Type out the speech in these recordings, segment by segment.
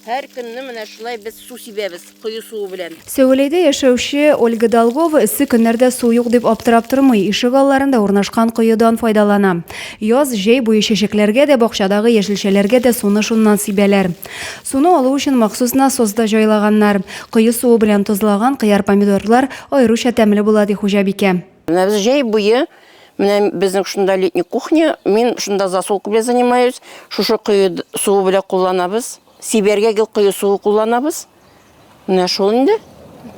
Һәр көнне менә шулай без су сибәбез, кое суы белән. Сәвәләйдә яшәүче Ольга Долгова эссе көннәрдә су юк дип аптырап тормый, ишек алларында урнашкан коедан файдалана. Яз, җәй буе чәчәкләргә дә, бакчадагы яшелчәләргә дә суны шуннан сибәләр. Суны алу өчен махсус насос да җайлаганнар. Кое суы белән тозлаган кыяр-помидорлар аеруча тәмле була, ди хуҗабикә. Менә без җәй буе Менә безнең шунда летний кухня, мин шунда засолка белән занимаюсь. Шушы кое суы белән кулланабыз. Сибәргә гел кое суы кулланабыз. Менә шул инде.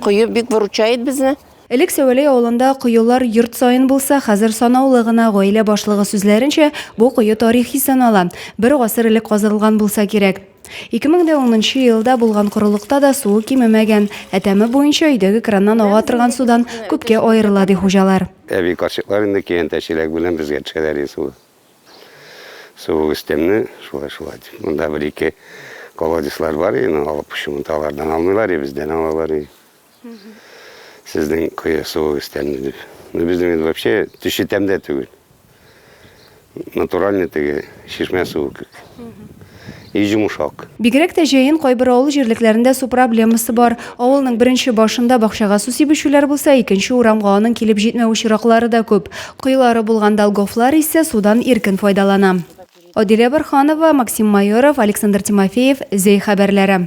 Кое бик выручает безне. Элек Сәвәләй авылында коелар йорт саен булса, хәзер санаулы гына, гаилә башлыгы сүзләренчә, бу кое тарихи санала. Бер гасыр элек казырылган булса кирәк. Ике мең дә унынчы елда булган корылыкта да суы кимемәгән, ә тәме буенча өйдәге краннан ага торган судан күпкә аерыла, ди хуҗалар. Әби карчыклар инде киянтә чиләге белән безгә төшәләр иде суга. Суы өстәмле, шулай-шулай дип. Монда бер-ике колодецлар бар иде, алып шуны алардан алмыйлар иде, бездән алалар иде. Сезнең кое суыгыз тәмле дип. Ну, безнең инде вообще төче тәмдә түгел. Натуральный теге чишмә суы кебек. И йомшак. Бигрәк тә җәен кайбер авыл җирлекләрендә су проблемасы бар. Авылның беренче башында бакчага су сибүчеләр булса, икенче урамга аның килеп җитмәү очраклары да күп. Коелары булган Долговлар исә судан иркен файдалана. Адилә Борһанова, Максим Майоров, Александр Тимофеев, Зәй хәбәрләре.